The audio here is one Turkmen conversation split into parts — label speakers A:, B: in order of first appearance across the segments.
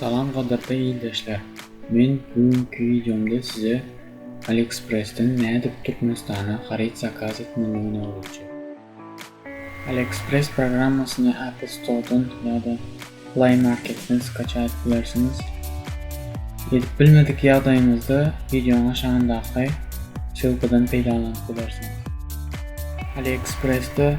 A: Salam gadyrly ildeşler! Men bu günki wideomda size Aliexpressden nädip Türkmenistana haryt zakaz etmelidigini öwredjek. Aliexpress programmasyny Apple Store-dan ýa-da Play Market-den skaçaýyp bilersiňiz. Edip bilmedik ýagdaýyňyzda wideoň aşagyndaky ssylkadan peýdalanyp bilersiňiz. Aliexpressde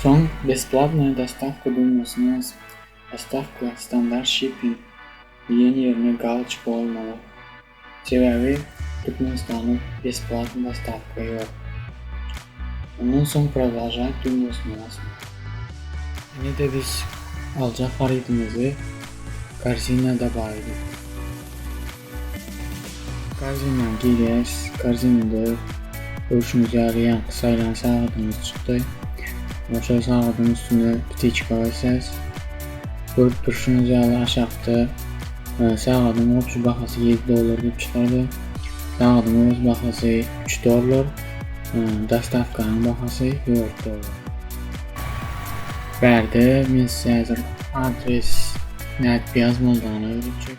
A: Soň Besplawnaýa dostawka düwmesini basyp, Dostawka, standart şiping, diýen ýerine galoçik goýulmaly. Sebäbi Türkmenistanda besplawnyý dostawka ýok. Ondan soň Prodolžaýt düwmesini basyň. Ine-de biz aljak harytymyzy Korzinä dabaýdyk. Korzinany girýäs. Korzinada görşüňiz ýaly ýaňky saýlan sagadyňyz çykdy. Ýa-da şol sagadyň üstüne ptiçka basýas. Görüp durşuňyz ýaly aşakda sagadyň goşy bahasy ýedi dollar diýip çykardy. Sagadyň öz bahasy üç dollar. Dostawkanyň bahasy dört dollar. Bärde men size häzir adres nädip ýazmalydygyny öwredjek.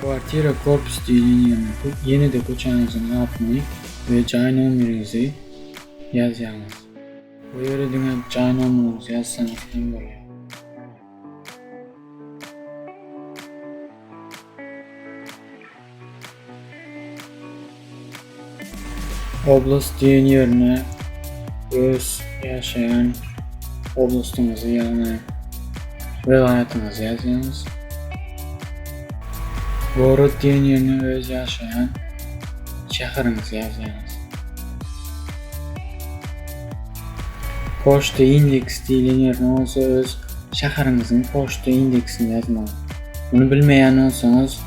A: Kwartira korpus diýlen ýerine ýene-de köçäňiziň adyny we jaý nomeriňizi ýazýaňyz. Bu ýere diňe jaý nomeriňizi ýazsaňyz hem bolýar. Oblast diýen ýerine öz ýaşaýan oblastyňyzy ýagny welaýatyňyzy ýazýaňyz. Gorod diýen ýerine öz ýaşaýan şäheriňizi ýazýaňyz. Poçta indeks diýlen ýerine bolsa öz şäheriňiziň poçta indeksini ýazmaly. Muny bilmeýän bolsaňyz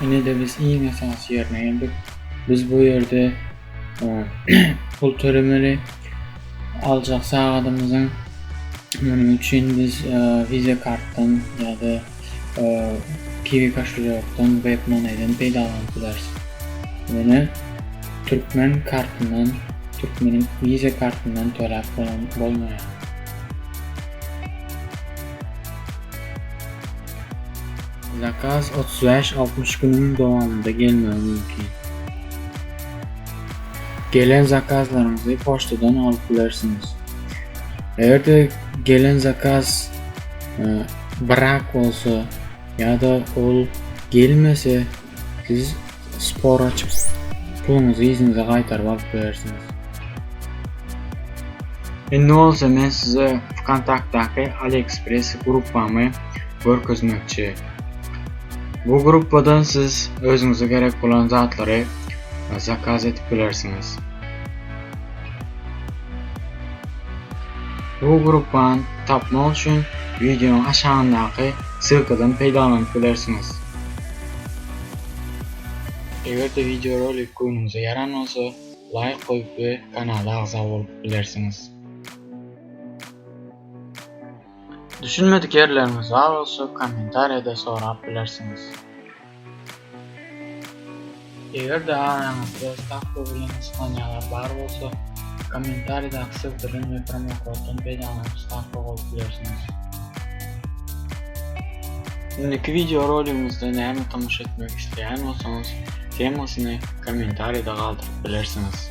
A: Ine-de biz iň esasy ýerine geldik. Biz bu ýerde pul tölemeli. Aljak sagadymyzyň munuň üçin biz Visa kartdan ýa-da Kiwi koşulýokdan, WebMoney-den peýdalanyp bileris. Ýöne türkmen kartyndan, türkmeniň Visa kartyndan töläp bolmaýar. Zakaz otuz bäş, altmyş günüň dowamynda gelmegi mümkin. Gelen zakazlaryňyzy poçtadan alyp bilersiňiz. Eger-de gelen zakaz e, brak bolsa ýa-da ol gelmese, Siz spor açyp, puluňyzy yzyňyza gaýtaryp alyp bilersiňiz. Indi bolsa men size Vkontaktdaky AliExpress gruppamy görkezmekçi. Bu gruppadan siz özüňize gerek bolan zatlary zakaz edip bilersiňiz. Bu gruppany tapmak üçin wideonyň aşagyndaky ssylkadan peýdalanyp bilersiňiz. Eger-de wideorolik göwnüňize ýaran bolsa, laýk goýup we kanala agza bolup bilersiňiz. Düşünmedik ýerleriňiz bar bolsa, kommentariýada sorap bilersiňiz. Eger-de araňyzda stavka bilen gyssanýalar bar bolsa, kommentariýadaky sygdyrylan we promokoddan peýdalanyp stavka goýup bilersiňiz. Indiki wideo roligimizde näme tomaşa etmek isleýän bolsaňyz, temasyny kommentariýada galdyryp bilersiňiz.